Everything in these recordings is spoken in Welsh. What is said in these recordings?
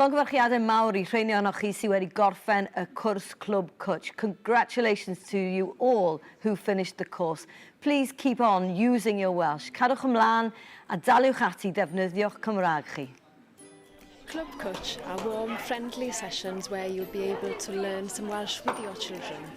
Llongyfarchiadau mawr i rheiny ohonoch chi sydd wedi gorffen y cwrs Clwb Cwtsh. Congratulations to you all who finished the course. Please keep on using your Welsh. Cadwch ymlaen a daliwch ati defnyddio'ch Cymraeg chi. Clwb Cwtsh are warm, friendly sessions where you'll be able to learn some Welsh with your children.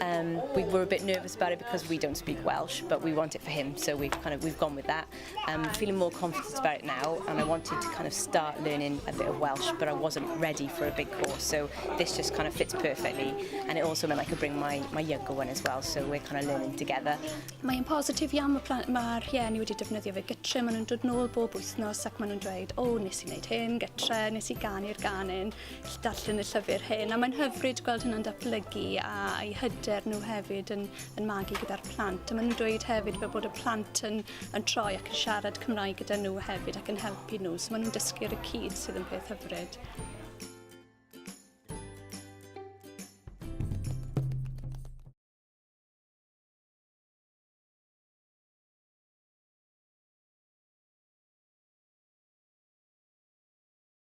Um, we were a bit nervous about it because we don't speak Welsh, but we want it for him, so we've kind of we've gone with that. I'm um, feeling more confident about it now, and I wanted to kind of start learning a bit of Welsh, but I wasn't ready for a big course, so this just kind of fits perfectly. And it also meant I could bring my my younger one as well, so we're kind of learning together. Mae'n positif iawn, mae mae'r rhieni wedi defnyddio fe gytre, maen nhw'n dod nôl bob wythnos ac maen nhw'n dweud, o, oh, nes i wneud hyn, gytre, nes i ganu'r ganyn. gallu darllen y llyfr hyn a mae'n hyfryd gweld hynna'n datblygu a i hyder nhw hefyd yn, yn magu gyda'r plant. A maen nhw'n dweud hefyd fel bod y plant yn, yn troi ac yn siarad Cymraeg gyda nhw hefyd ac yn helpu nhw. So maen nhw'n dysgu ar y cyd sydd yn peth hyfryd.